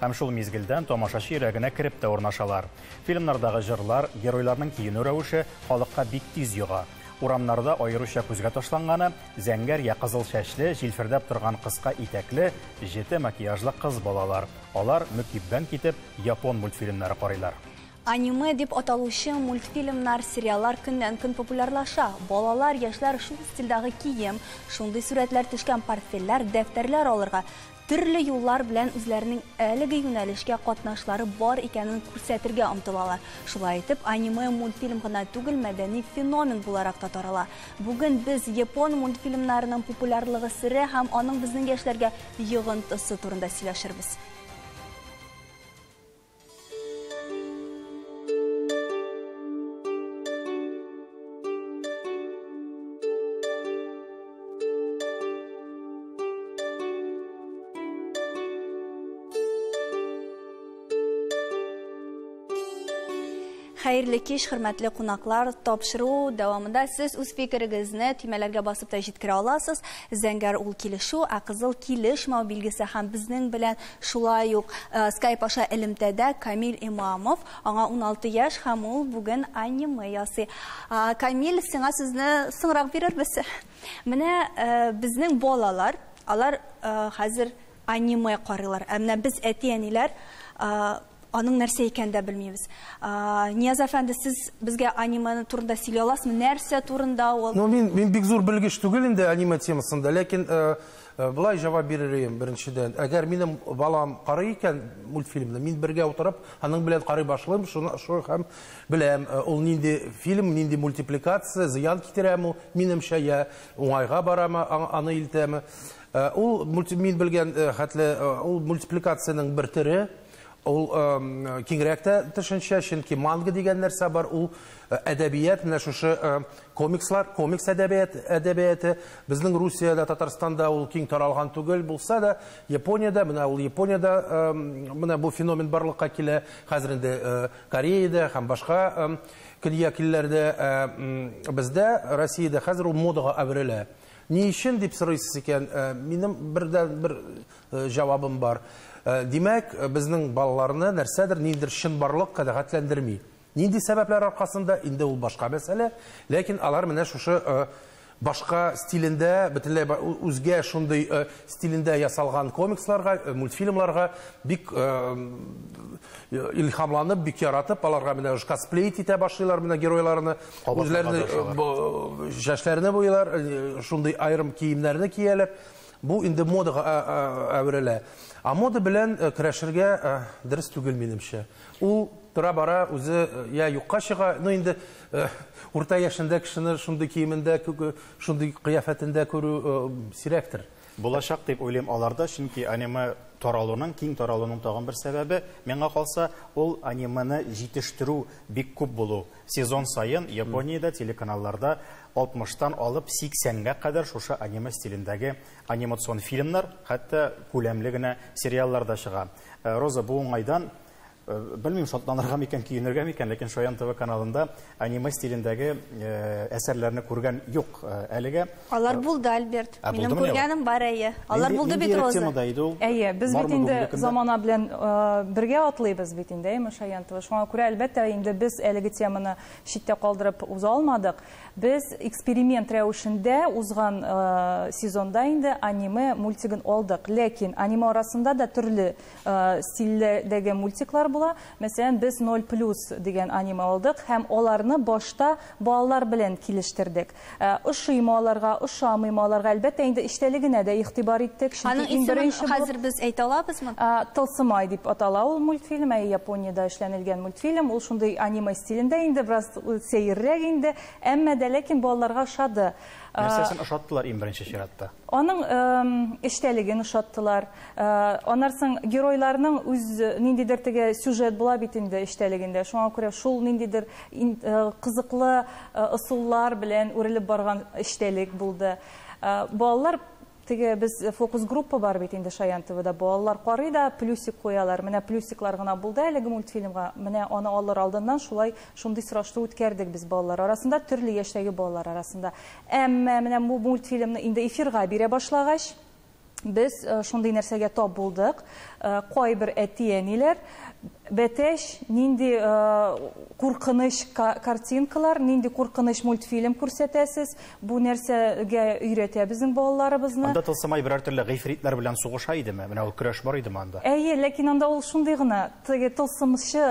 Һәм шул мизгелдән тамашачы йөрәгенә кереп тә урнашалар. Фильмнардагы җырлар, геройларның киенү рәвеше халыкка бик тиз йога. Урамнарда аеруча күзгә ташланганы, зәңгәр йә кызыл чәчле, җилфердәп торган кыска итәкле, җете макияжлы кыз балалар. Алар, мөкиббән китеп, япон мультфильмнары карыйлар. Аниме дип аталучы мультфильмнар, сериаллар көннән-көн популярлаша. Балалар, яшьләр шул стильдагы кием, шундый сурәтләр төшкән портфельләр, дәфтәрләр алырга, төрле юллар белән үзләренең әлеге юнәлешкә катнашлары бар икәнен күрсәтергә омтылалар. Шулай итеп, аниме мультфильм гына түгел, мәдәни феномен буларак та тарала. Бүген без япон мультфильмнарының популярлыгы сере һәм аның безнең яшьләргә йогынтысы турында сөйләшербез. Хәерле кич, хөрмәтле кунаклар. Тапшыру дәвамында сез үз фикерегезне төймәләргә басып та җиткерә аласыз. Зәңгәр ул килешү, ә кызыл килешмәү билгесе һәм безнең белән Шулай ук скайп аша элемтәдә Камиль Имамов, аңа уналты яшь һәм ул бүген аниме ясый. Камиль, сиңа сүзне соңрак бирербез. Менә безнең балалар, алар хәзер аниме карыйлар, ә менә без әти-әниләр Аның нәрсә икән дә белмибез. Нияз әфәнде, сез безгә аниме турында сөйли аласызмы? Нәрсә турында ул? Ну, мин, мин бик зур белгеч түгел инде аниме темасында, ләкин э, э, былай җавап бирер идем беренчедән. Әгәр минем балам карый икән мультфильмны, мин бергә утырып, аның белән карый башлыйм, шуны шуны һәм беләм, э, ул нинди фильм, нинди мультипликация, зыян китерәме, минемчә я уңайга барамы, аны илтәме. Э, ул мин белгән э, хәтле э, ул мультипликациянең бер төре ул киңрәк тә төшенчә чөнки манга дигән нәрсә бар ул әдәбият менә шушы комикслар комикс әдәбият әдәбияты безнең русиядә татарстанда ул киң таралган түгел булса да япониядә менә ул япониядә менә бу феномен барлыкка килә хәзер инде кореяда һәм башка көньяк илләрдә бездә россиядә хәзер ул модага әверелә Ни өчен дип сорыйсыз икән, э, минем бердән бер э, җавабым бар. Э, димәк, безнең балаларны нәрсәдер ниндидер чынбарлык канәгатьләндерми. Нинди сәбәпләр аркасында инде ул башка мәсьәлә, ләкин алар менә шушы башка стилендә, бөтенләй үзгә шундый э, стилендә ясалган комиксларга, э, мультфильмларга бик э, илһамланып, бик яратып, аларга менә косплей итә башлыйлар менә геройларны, Үзләрне чәчләрне буялар, шундый аерым киемнәрне кияләр. Бу инде модага әверелә. А мода белән көрәшергә дөрес түгел минемчә. Ул тора-бара үзе я юкка чыга, ну инде урта яшендә кешене шундый киемендә, шундый кыяфәтендә күрү сирәктер. Булачак дип уйлыйм аларда, чөнки аниме таралуның, киң таралуның тагын бер сәбәбе, миңа калса, ул аниманы җитештерү бик күп булу. Сезон саен Япониядә телеканалларда 60 тан алып 80 гә кадәр шушы аниме стилендәге анимацион фильмнар, хәтта күләмле генә сериаллар да чыга. Роза, бу уңайдан Белмим, шатланырга микән, көенергә микән, ләкин Шаян ТВ каналында аниме стилендәге әсәрләрне күргән юк әлегә. Алар булды, Альберт. Минем күргәнем бар, әйе. Алар булды бит, Роза. Нинди темада иде ул? Әйе, без бит инде замана белән бергә атлыйбыз бит инде, әйеме, Шаян ТВ? Шуңа күрә, әлбәттә, инде без әлеге теманы читтә калдырып уза алмадык. Без эксперимент рәвешендә узган сезонда инде аниме мультигын алдык. Ләкин аниме арасында да төрле стильдәге мультиклар була. Мәсәлән, без 0 плюс дигән аниме алдык һәм аларны башта балалар белән килештердек. Ошыймы аларга, ошамыймы аларга, әлбәттә, инде эчтәлегенә дә игътибар иттек, чөнки иң беренче бу. Аның исемен хәзер без әйтә алабызмы? Тылсымай дип атала ул мультфильм, әйе, Япониядә эшләнелгән мультфильм. Ул шундый аниме стилендә инде, бераз сәеррәк инде, әмма дә ләкин балаларга ошады. Нәрсәсен ошаттылар иң беренче чиратта? Аның эчтәлеген ошаттылар. Э, аннан соң геройларның үз э, ниндидер теге сюжет була бит инде эчтәлегендә шуңа күрә шул ниндидер э, кызыклы ысуллар белән үрелеп барган эчтәлек булды балалар теге без фокус группа бар бит инде шаян твда балалар карый да плюсик куялар менә плюсиклар гына булды әлеге мультфильмга менә аны алыр алдыннан шулай шундый сораштыру үткәрдек без балалар арасында төрле яшьтәге балалар арасында әмма менә бу мультфильмны инде эфирга бирә башлагач без шундый нәрсәгә тап булдык. Кайбер әти-әниләр бәтәч нинди куркыныч картинкалар, нинди куркыныч мультфильм күрсәтәсез, бу нәрсәгә өйрәтә безнең балаларыбызны. Анда тылсымай берәр төрле гыйфритләр белән сугыша идеме? Менә ул көрәш бар идеме анда? Әйе, ләкин анда ул шундый гына, теге тылсымчы,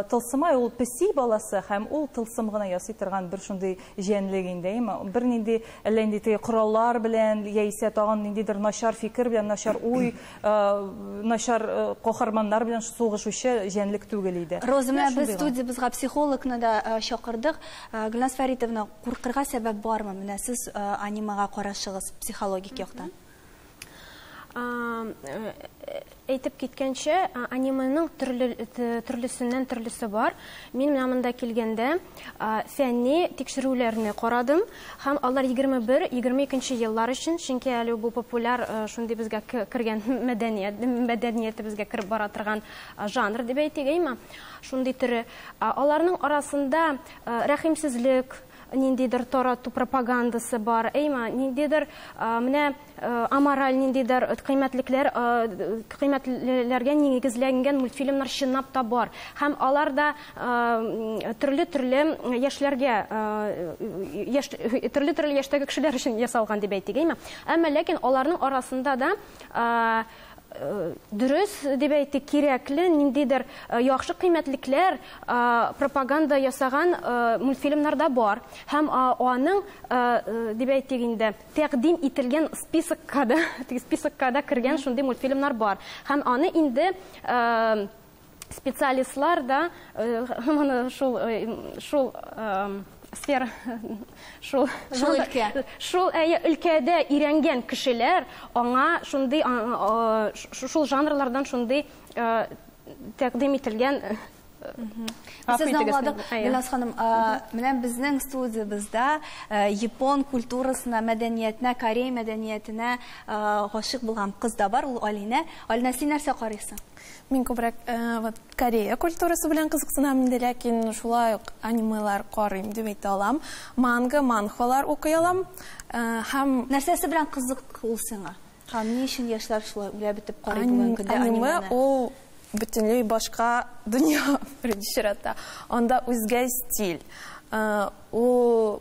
тылсымай ул песи баласы һәм ул тылсым гына ясый торган бер шундый җәнлек инде, әйеме? Бернинди Әллә нинди теге кораллар белән яисә тагын ниндидер начар фикер белән, начар уй, начар каһарманнар белән сугышучы җәнлек түгел иде. Роза, менә без студиябезгә психологны да чакырдык. Гөлназ Фәритовна, куркырга сәбәп бармы? Менә сез анимага карашыгыз психологик яктан. әйтеп киткәнчә, аниманың төрле, төрлесеннән төрлесе бар. Мин менә монда килгәндә фәнни тикшерүләрне карадым һәм алар 21-22 еллар өчен, чөнки әле бу популяр шундый безгә кергән мәдәният, мәдәниятебезгә кереп бара торган жанр дип әйтик, әйме? Шундый төре. Аларның арасында рәхимсезлек, ниндидер тарату пропагандасы бар, әйма, ниндидер менә амораль ниндидер кыйммәтлекләр кыйммәтләргә нигезләнгән мультфильмнар чынлап та бар. Һәм алар да төрле-төрле яшьләргә яшь төрле-төрле яшьтәге кешеләр өчен ясалган дип әйтик, әйма. Әмма ләкин аларның арасында да Дөрес дип әйтик, кирәкле ниндидер яхшы кыйммәтлекләр пропаганда ясаган мультфильмнарда бар. Һәм аның, дип әйтик инде, тәкъдим ителгән списокка да, списокка да кергән шундый мультфильмнар бар. Һәм аны инде специалистлар да моны шул шул сфера шул шул өлкә шул әйе өлкәдә өйрәнгән кешеләр аңа шундый шул жанрлардан шундый тәкъдим ителгән Сезне аңладык, Гөлназ ханым. Менә безнең студиябездә япон культурасына, мәдәниятенә, корей мәдәниятенә гашык булган кыз да бар, ул Алинә. Алинә, син нәрсә карыйсың? Мин күбрәк вот Корея культурасы белән кызыксынам инде, ләкин шулай ук анимелар карыйм дип әйтә алам. Манга, манхвалар укый алам. Һәм Нәрсәсе белән кызык ул сиңа? Һәм ни өчен яшьләр шулай үлә бетеп карый бүгенге көндә анимены? Аниме ул бөтенләй башка дөнья, беренче чиратта. Анда үзгә стиль. Ул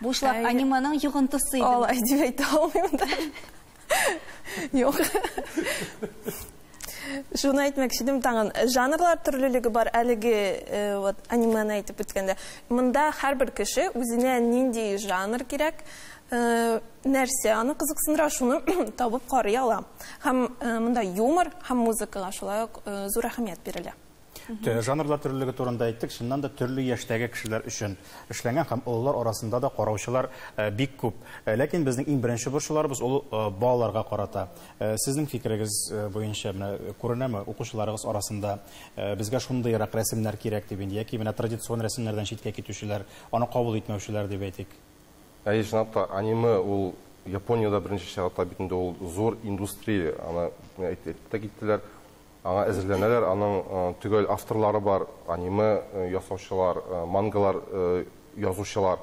Бу чылап аниманың йогынтысы иде. Алай дип әйтә алмыйм да. Юк. Шуны әйтмәкче идем тагын. Жанрлар төрлелеге бар әлеге э, вот аниманы әйтеп үткәндә. Монда һәрбер кеше үзенә нинди жанр кирәк, э, нәрсә аны кызыксындыра, шуны табып карый ала. Һәм э, монда юмор һәм музыкага шулай ук зур әһәмият бирелә. Тө- Жанрлар төрлелеге турында әйттек, чыннан да төрле яшьтәге кешеләр өчен эшләнгән һәм олылар арасында да караучылар э, бик күп. Э, Ләкин безнең иң беренче борчуларыбыз ул э, балаларга карата. Э, Сезнең фикерегез э, буенча менә э, күренәме укучыларыгыз арасында э, безгә шундыйрак рәсемнәр кирәк дип инде яки менә традицион рәсемнәрдән читкә китүчеләр, аны кабул итмәүчеләр дип әйтик? Әйе, чынлап та, аниме ул Япониядә беренче чиратта бит инде ул зур индустрия, аны әйтеп тә киттеләр. Аңа әзерләнәләр, аның төгәл авторлары бар, аниме ясаучылар, мангалар язучылар.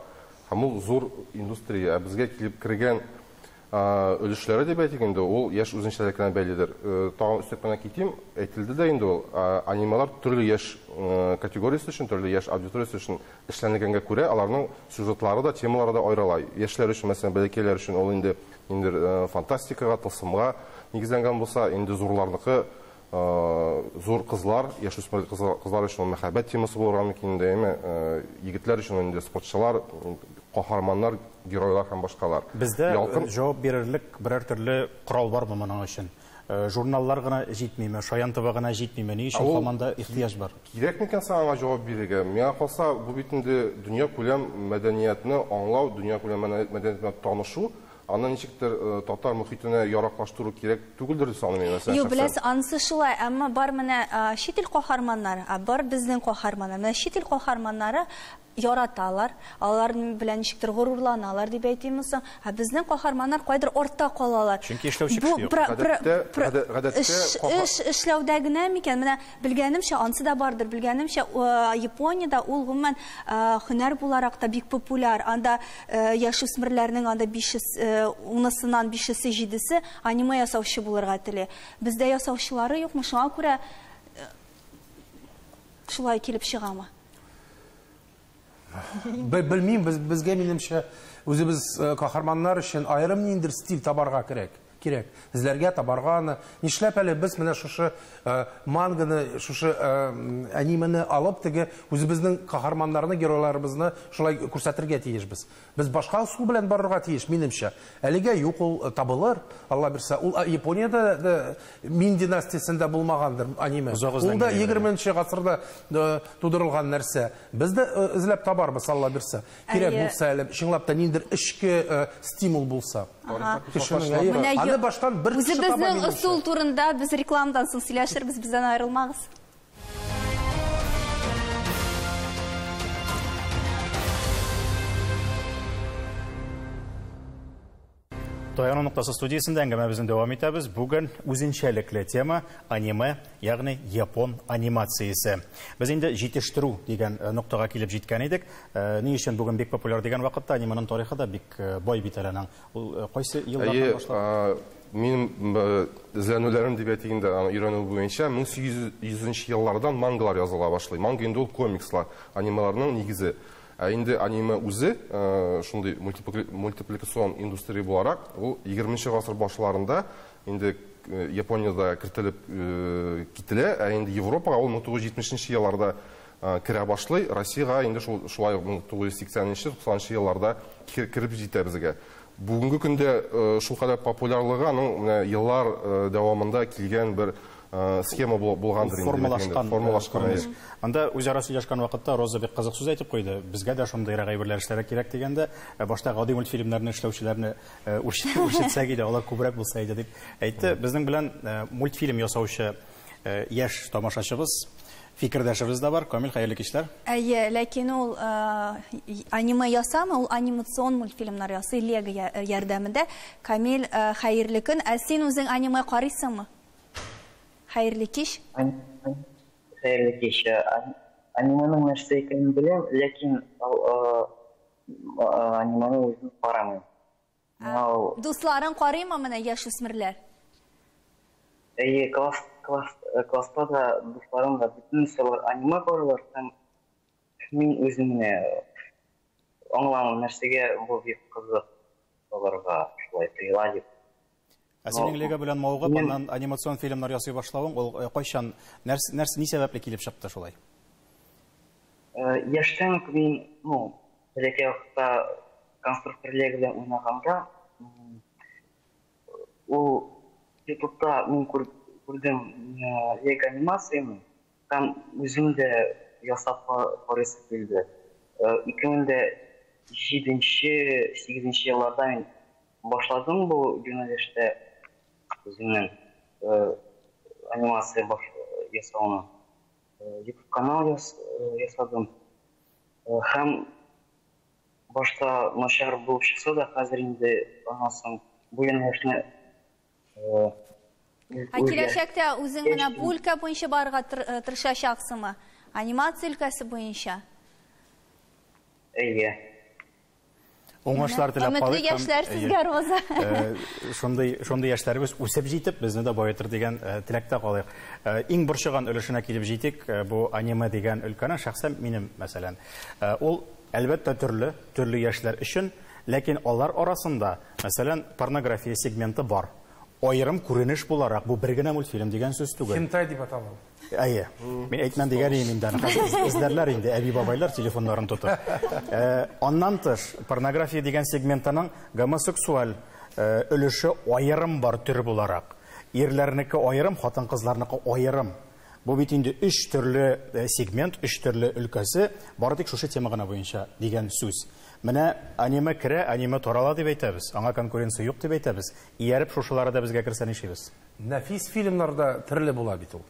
Һәм ул зур индустрия. Ә безгә килеп кергән өлешләре дип әйтик инде, ул яшь үзенчәлекләренә бәйледер. Тагын өстәп кенә китим, әйтелде дә инде ул, анималар төрле яшь категориясе өчен, төрле яшь аудиториясе өчен эшләнелгәнгә күрә, аларның сюжетлары да, темалары да аерыла. Яшьләр өчен, мәсәлән, бәләкәйләр өчен ул инде Инде фантастикага, тылсымга нигезләнгән булса, инде зурларныкы зур кызлар, яшүсмер кызлар өчен ул мәхәббәт темасы булырга мөмкин инде, әйме, егетләр өчен инде спортчылар, каһарманнар, геройлар һәм башкалар. Бездә җавап бирерлек берәр төрле корал бармы моның өчен? Э, журналлар гына җитмиме, шаян таба гына җитмиме, ни өчен һаман да ихтыяҗ бар? Кирәк микән соң аңа җавап бирергә? Миңа калса, бу бит инде дөнья күләм мәдәниятне аңлау, дөнья күләм мәдәниятенә танышу, аны ничектер э, татар мөхитенә яраклаштыру кирәк түгелдер дип саныйм мин мәсәлән. Юк, беләс, анысы шулай, әмма бар менә чит ил каһарманнары, бар безнең каһарманнар. Менә чит ил каһарманнары яраталар, алар белән ничектер горурланалар дип әйтимме соң? Ә безнең каһарманнар кайдыр артта калалар. Чөнки эшләүче кеше юк. Гадәттә, гадәттә каһар... Эш, эш эшләүдә генә микән? Менә белгәнемчә, ансы да бардыр. Белгәнемчә, Япониядә ул гомумән һөнәр буларак та бик популяр. Анда яшүсмерләрнең анда бишес, унысыннан бишесе, җидесе аниме ясаучы булырга тели. Бездә ясаучылары юкмы, шуңа күрә Шулай килеп чыгамы? Белмим, без безгә минемчә үзебез э, каһарманнар өчен аерым ниндер стиль табарга кирәк. Кирәк. Эзләргә табарга аны. Нишләп әле без менә шушы э, манганы, шушы э, аниманы алып теге үзебезнең каһарманнарны, геройларыбызны шулай күрсәтергә тиешбез. Без башка ысул белән барырга тиеш, минемчә. Әлегә юк ул, табылыр, Алла бирсә. Ул Япониядә дә Мин династиясендә булмагандыр аниме. Ул да егерменче гасырда тудырылган нәрсә. Без дә эзләп табарбыз, Алла бирсә. Кирәк булса әле, чынлап та ниндидер эчке стимул булса. Аны баштан бер кеше таба, минемчә. Үзебезнең ысул турында без рекламадан соң сөйләшербез, бездән аерылмагыз. Таяну ноктасы студиясендә әңгәмәбезне дәвам итәбез. Бүген үзенчәлекле тема аниме, ягъни япон анимациясе. Без инде җитештерү дигән э, ноктага килеп җиткән идек. Э, ни өчен бүген бик популяр дигән вакытта аниманың тарихы да бик э, бай бит әле аның. Ул кайсы еллардан Әйе, башлап? а, минем б- эзләнүләрем дип әйтик инде, аны өйрәнү буенча 1800 еллардан мангалар языла башлый. Манга инде ул комикслар, анималарның нигезе. Ә инде аниме үзе, э, шундый мультипли- мультипликацион индустрия буларак, ул 20 гасыр башларында инде э, Япониядә кертелеп э, кителә, ә инде Европага ул 1970 елларда керә башлый. Россиягә инде шул шулай 1980-90 елларда кереп җитә безгә. Бүгенге көндә шул кадәр популярлыгы аның менә еллар дәвамында килгән бер схема булгандыр инде. Формалашкан. Формалашкан. Анда үзара сөйләшкән вакытта Роза бик кызык сүз әйтеп куйды. Безгә дә шундыйрак әйберләр эшләргә кирәк дигәндә, башта гади мультфильмнарны эшләүчеләрне үрчетсәк иде, алар күбрәк булса иде дип әйтте. Безнең белән мультфильм ясаучы Яшь тамашачыбыз, фикердәшебез дә бар. Камил, хәерле кичләр. Әйе, ләкин ул аниме ясамый, ул анимацион мультфильмнар ясый Лего ярдәмендә. Камил, хәерле көн. Ә син үзең аниме карыйсыңмы? Хәерле кич. Хәерле кич. Аниманың нәрсә икәнен беләм, ләкин аниманы үзем карамыйм. Моңа ул Дусларын карыймы менә яшүсмерләр? Әйе, класс, класс, э, класста да дусларым да бөтенесе алар аниме карыйлар һәм мин үзем генә аңламыйм, нәрсәгә бу бик кызык аларга шулай тоела дип. Ә синең Лего белән мавыгып, аннан анимацион фильмнар ясый башлавың, ул э, кайчан, нәрс, нәрс, ни сәбәпле килеп чыкты шулай? Э, яшьтән үк мин, ну, бәләкәй вакытта конструктор Лего белән уйнаганда, ул ютубта мин күрдем э, Лего анимацияне, һәм үзем дә ясап карыйсы килде. Ике мең дә җиденче, сигезенче елларда мин Башладың бу юнәлештә үзеңнең анимация ясауны? Ютуб канал ясадым. Һәм башта начар булып чыкса да, хәзер инде аннан соң бу юнәлешне Ә киләчәктә үзең менә бу өлкә буенча барырга э, тырышачаксыңмы? Анимация өлкәсе буенча? Әйе. Уңышлар теләп калыйк. Өметле яшьләр сезгә, Роза. Э, шундый шундый яшьләребез үсеп җитеп, безне дә баетыр дигән э, теләктә калыйк. Иң борчыган өлешенә килеп җитик, бу аниме дигән өлкәнең шәхсән минем, мәсәлән. Ул Әлбәттә, төрле, төрле яшьләр өчен, ләкин алар арасында, мәсәлән, порнография сегменты бар. Аерым күренеш буларак, бу бер генә мультфильм дигән сүз түгел. Хентай дип атала ул. Әйе. Мин әйтмәм дигән идем инде аны. Хәзер эзләрләр инде әби-бабайлар телефоннарын тотып. Э, аннан тыш, порнография дигән сегментының гомосексуаль э, өлеше аерым бар төр буларак. Ирләрнеке аерым, хатын-кызларныкы аерым. Бу бит инде өч төрле сегмент, өч төрле өлкәсе, бары тик шушы тема гына буенча дигән сүз. Менә аниме керә, аниме тарала дип әйтәбез, аңа конкуренция юк дип әйтәбез. Ияреп шушылары да безгә керсә нишибез? Нәфис фильмнар да төрле була бит ул.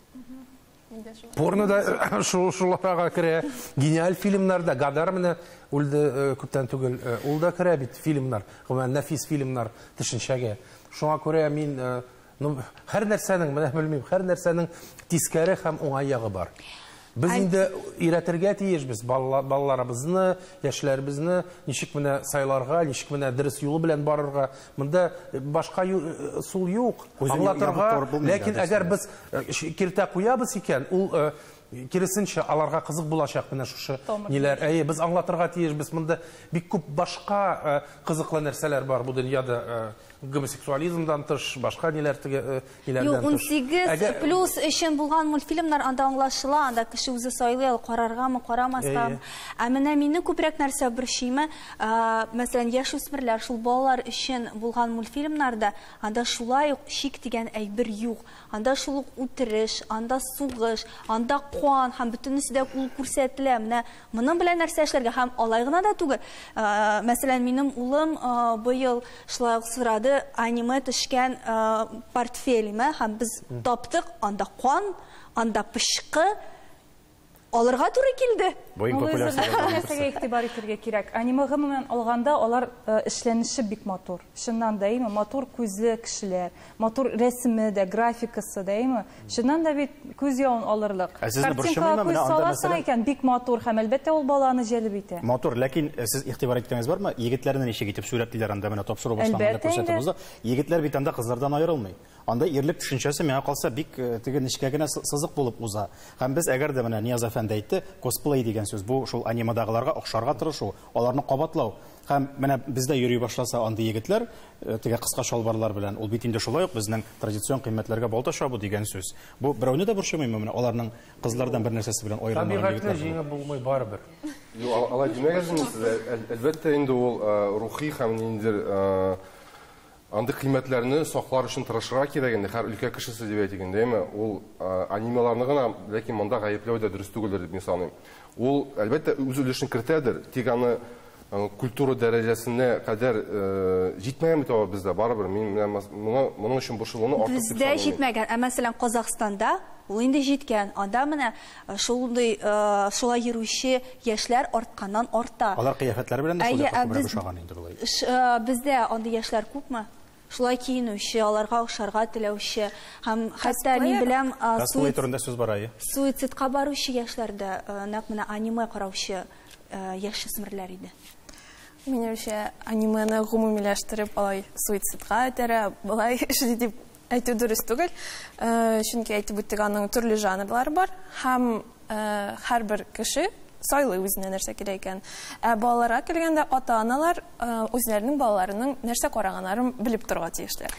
Порно да шуларга керә, гениаль фильмнар да, Гадар менә үлде э, күптән түгел, э, ул да керә бит фильмнар, гомумән нәфис фильмнар төшенчәгә. Шуңа күрә мин э, Ну, һәр нәрсәнең, менә белмим, һәр нәрсәнең тискәре һәм уңай ягы бар. Без инде өйрәтергә тиешбез балаларыбызны, яшьләребезне, ничек менә сайларга, ничек менә дөрес юлы белән барырга. Монда башка сул юк. Аңлатырга, ләкин әгәр без киртә куябыз икән, ул Киресенчә, аларга кызык булачак менә шушы ниләр. Әйе, без аңлатырга тиешбез, монда бик күп башка э, кызыклы нәрсәләр бар бу дөньяда. Э, гомосексуализмдан тыш, башка ниләр теге э, ниләрдән тыш. Юк, 18 плюс өчен булган мультфильмнар анда аңлашыла, анда кеше үзе сайлый ала, караргамы, карамаскамы. Ә менә мине күбрәк нәрсә борчыймы, мәсәлән, яшүсмерләр, шул балалар өчен булган мультфильмнарда анда шулай ук шик дигән әйбер юк. Анда шул ук үтереш, анда сугыш, анда кан һәм бөтенесе дә кул күрсәтелә. Менә моның белән нәрсә эшләргә? Һәм алай гына да түгел. Мәсәлән, минем улым быел шулай ук сорады аниме төшкән портфелемә һәм без таптык, анда кан, анда пычкы, Алырга туры килде. Бу иң популяр сорау. Нәрсәгә игътибар итәргә кирәк? Аниме гомумән алганда, алар э, эшләнеше бик матур. Чыннан да, әйме, матур күзле кешеләр, матур рәсеме дә, графикасы да, әйме. Чыннан да бит күз явын алырлык. Ә сезне борчымыймы? Картинкага күз саласың икән, бик матур һәм әлбәттә ул баланы җәлеп итә. Матур, ләкин э, сез игътибар иткәнегез бармы? Егетләрне ничек итеп сурәтлиләр анда менә тапшыру башланганда Әлбәттә инде. күрсәтеп узды. Егетләр бит анда кызлардан аерылмый. Анда ирлек төшенчәсе миңа калса бик теге нечкә генә сызык булып уза. Һәм без әгәр дә менә Нияз әфәнде әйтте, косплей дигән сүз, бу шул анимадагыларга охшарга тырышу, аларны кабатлау. Һәм менә бездә йөри башласа андый егетләр, теге кыска чалбарлар белән, ул бит инде шулай ук безнең традицион кыйммәтләргә балта чабу дигән сүз. Бу берәүне дә борчымыймы менә аларның кызлардан бер нәрсәсе белән аерылмаган егетләр булу? Табигатьне җиңеп булмый барыбер. Юк, алай димәгез инде сез, әлбәттә инде ул рухи һәм ниндидер Андый кыйммәтләрне саклар өчен тырышырга кирәк инде, һәр өлкә кешесе дип әйтик инде, әйме? Ул анимияларны гына, ләкин монда гаепләү дә дөрес түгелдер дип мин саныйм. Ул, әлбәттә, үз өлешен кертәдер, тик аны культура дәрәҗәсенә кадәр җитмәгән бит аңа бездә, барыбер. Мин менә моңа, моның өчен борчылуны артык дип санамыйм. Бездә җитмәгән, ә мәсәлән, Казахстанда ул инде җиткән. Анда менә Шундый, шулай йөрүче яшьләр артканнан арта. Алар кыяфәтләре белән дә шулай күбрәк ошаган инде болай. Бездә андый яшьләр күпме? Шулай киенүче, аларга ошарга теләүче һәм хәтта мин беләм, косплей турында сүз бара, әйе. Суицидка баручы яшьләр дә нәкъ менә аниме караучы яшүсмерләр иде. Минемчә, анимены гомумиләштереп алай суицидка этәрә, болай эшли дип Әйтү дөрес түгел, чөнки әйтеп үттек, аның төрле жанрлары бар һәм һәрбер кеше сайлый үзенә нәрсә кирәк икән. Ә балаларга килгәндә, ата-аналар үзләренең балаларының нәрсә караганнарын белеп торырга тиешләр.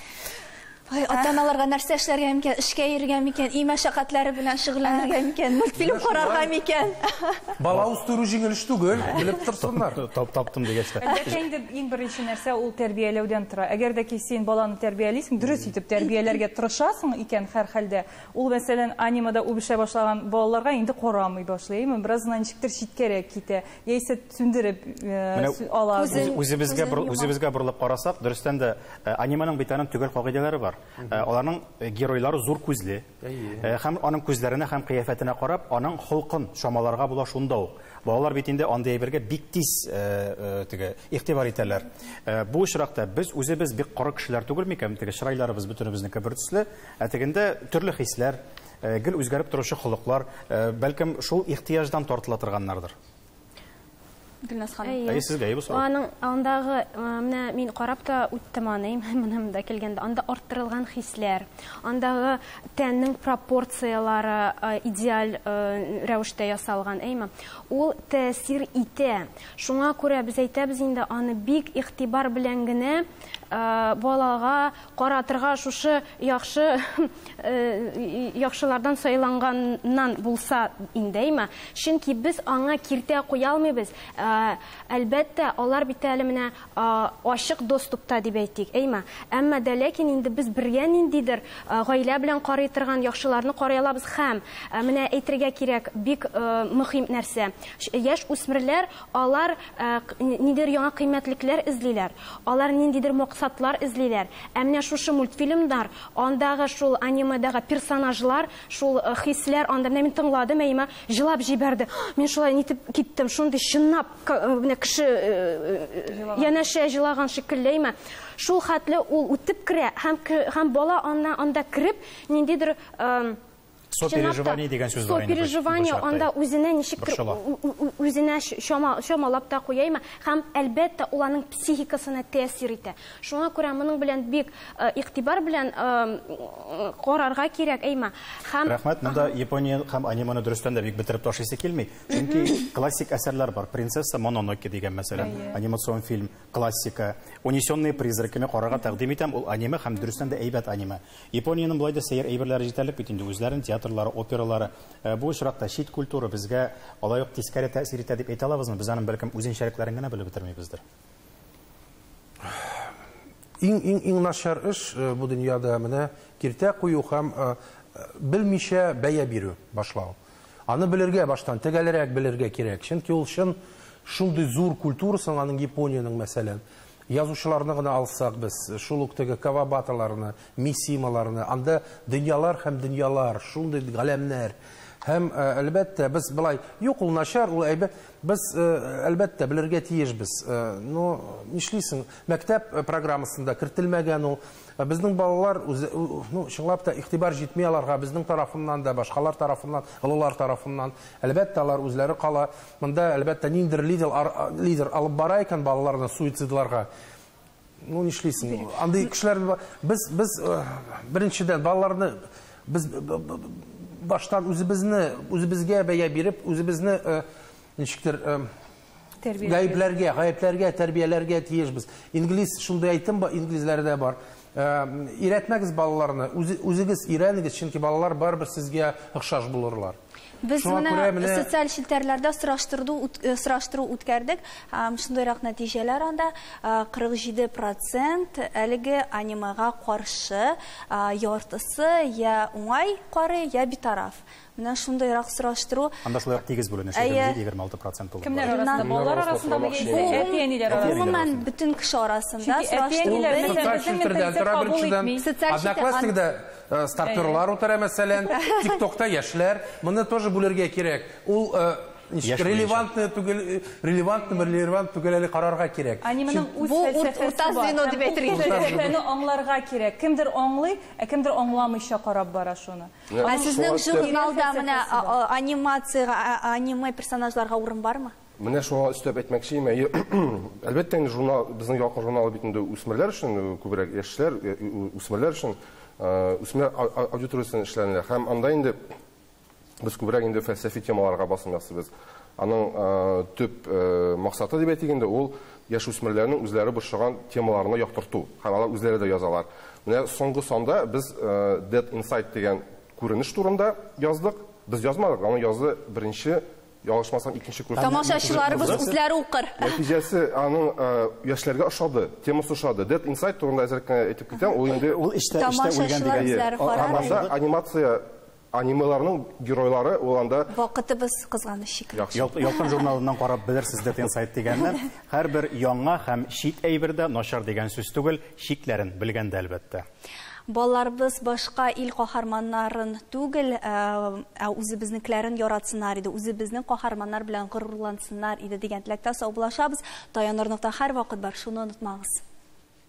Ой, ата-аналарга нәрсә эшләргә микән? Эшкә йөрергә микән? Өй мәшәкатьләре белән шөгыльләнергә микән? Мультфильм карарга микән? Бала үстерү җиңел эш түгел, белеп торсыннар. Таптым дигәч тә. Әлбәттә инде Иң беренче нәрсә ул тәрбияләүдән тора. Әгәр дә ки син баланы тәрбиялисең, дөрес итеп тәрбияләргә тырышасың икән һәрхәлдә, ул, мәсәлән, анимада үбешә башлаган балаларга инде карамый башлый, әйеме? Бераз гына ничектер читкәрәк китә, яисә сүндереп ала. Үзебезгә үзебезгә борылып карасак, дөрестән дә аниманың бит аның төгәл кагыйдәләре бар. Аларның геройлары зур күзле. Э, һәм аның күзләренә һәм кыяфәтенә карап, аның холкын чамаларга була шунда ук. Балалар бит инде андый әйбергә бик тиз э, э, теге игътибар итәләр. Бу очракта без үзебез бик коры кешеләр түгел микән? Теге чырайларыбыз бөтенебезнеке бер төсле, ә тегендә төрле хисләр, гел үзгәреп торучы холыклар, бәлкем шул ихтыяҗдан тартыла торганнардыр. Гөлназ ханым. Әйе. Әйе, сезгә, әйе, бу сорау. Аның андагы, э, менә мин карап та үттем аны, моным да килгәндә, анда арттырылган хисләр, андагы тәннең пропорциялары э, идеаль э, рәвештә ясалган, әйме? Ул тәэсир итә. Шуңа күрә без әйтәбез инде, аны бик игътибар белән генә балага Каратырга шушы яхшы яхшылардан сайланганнан булса индеме? Чөнки без аңа киртә куя алмыйбыз. Әлбәттә, алар бит әле менә ачык доступта дип әйтик, әйме? Әмма дә ләкин инде без бергә ниндидер гаилә белән карый торган яхшыларны карый алабыз һәм, менә әйтергә кирәк, бик мөхим нәрсә, яшь үсмерләр Алар нидер яңа кыйммәтлекләр эзлиләр, алар ниндидер максатлар эзлиләр. Ә менә шушы мультфильмнар, андагы шул анимедагы персонажлар, шул хисләр анда, менә мин тыңладым, әйемә җылап җибәрде. Мин шулай нитеп киттем, шундый чынлап менә кеше янәшә җылаган шикелле әйемә. Шул хәтле ул үтеп керә һәм бала анда кереп ниндидер сопереживание дигән сүз бар инде. Сопереживание анда үзенә ничектер үзенә чамалап та куяймы? Һәм әлбәттә ул аның психикасына тәэсир итә. Шуңа күрә моның белән бик э, игътибар белән э, карарга кирәк, әйма. Һәм Рәхмәт, монда Япония һәм аниманы дөрестән дә бик бетереп ташлыйсы килми. Чөнки классик әсәрләр бар. Принцесса Мононоке дигән мәсәлән, анимацион фильм, классика. Унесенные призраками карарга тәкъдим итәм, ул аниме һәм дөрестән дә әйбәт аниме. Япониянең болай да сәер әйберләре җитәрлек бит инде, үзләренең театрлары, опералары. Бу очракта чит культура безгә алай ук тискәре тәэсир итә дип әйтә алабызмы? Без аның бәлкем үзенчәлекләрен генә белеп бетермибездер. Иң-иң-иң начар эш бу дөньяда менә киртә кую һәм белмичә бәя бирү, башлау. Аны белергә баштан, тәгәлрәк белергә кирәк, чөнки ул чын шундый зур культура соң аның Япониянең, мәсәлән. Язучыларны гына алсак без, шул ук теге Кавабаталарны, Мисималарны, анда дөньялар һәм дөньялар, шундый галәмнәр. Һәм, әлбәттә, без болай, юк, ул начар, ул әйбәт. Без, әлбәттә, белергә тиешбез. Ну, нишлисең, мәктәп программасында кертелмәгән ул. Безнең балалар, ну, чынлап та игътибар җитми аларга безнең тарафыннан да, башкалар тарафыннан, олылар тарафыннан. Әлбәттә, алар үзләре кала. Монда, әлбәттә, ниндидер лидер, лидер алып бара икән балаларны суицидларга. Ну, нишлисең? Андый кешеләр без без э, беренчедән балаларны без баштан үзебезне үзебезгә бәя биреп, үзебезне э, ничектер э, гаепләргә, гаепләргә, тәрбияләргә тиешбез. Инглиз шундый әйтем бар, инглизләрдә бар. Өйрәтмәгез балаларны, үзегез өйрәнегез, чөнки балалар барыбер сезгә охшаш булырлар. Без моны социаль челтәрләрдә сораштыру үткәрдек, һәм шундыйрак нәтиҗәләр анда, 47 процент әлеге анимега каршы, яртысы я уңай карый, я битараф. Менә шундыйрак сораштыру. Анда шулай ук тигез бүленеш, егерме җиде, егерме алты процент тулы. Кемнәр арасында? Балалар арасындамы яисә әти-әниләр арасында? Гомумән, бөтен кеше арасында сораштыру. Социаль челтәрдә дә тора беренчедән. Одноклассникда стартерлар утыра, мәсәлән, тик-токта яшьләр. Моны тоже бүлергә кирәк. Ул ничек, релевантный түгел, релевантнымы, релевант түгел әле карарга кирәк. Анименең үз фәлсәфәсе бар. Ул фәлсәфәне аңларга кирәк. Кемдер аңлый, ә кемдер аңламыйча карап бара шуны. Ә сезнең журналда менә анимациягә, аниме персонажларга урын бармы? Менә шуңа өстәп әйтмәкче имә. Әлбәттә, инде журнал, безнең ялкын журналы бит инде үсмерләр өчен, э, күбрәк яшьләр, э, үсмерләр өчен, э, үсмер аудиториясен эшләнелә. Һәм анда инде без күбрәк инде фәлсәфи темаларга басым ясыйбыз. Аның төп максаты дип әйтик инде, ул яшүсмерләрнең үзләре борчыган темаларны яктырту һәм алар үзләре дә язалар. Менә соңгы санда без Dead Inside дигән күренеш турында яздык. Без язмадык, аны язды беренче, ялгышмасам, икенче курс. Тамашачыларыбыз үзләре укыр. Нәтиҗәсе аның яшьләргә ошады, темасы ошады. Dead Inside турында әзрәк кенә әйтеп китәм, ул инде... Ул эчтә үлгән дигән. Тамашачылар үзләре карар. Анда анимация Анимеларның геройлары ул анда. Вакытыбыз кызганыч шикелле. Ялкын журналыннан карап белерсез дип инсайт дигәнне. Һәрбер яңа һәм чит әйбер дә начар дигән сүз түгел, чикләрен белгәндә, әлбәттә. Балаларыбыз башка ил каһарманнарын түгел, ә үзебезнекеләрен яратсыннар иде, үзебезнең каһарманнар белән горурлансыннар иде дигән теләктә саубуллашабыз. Таянырлык та һәрвакыт бар, шуны онытмагыз.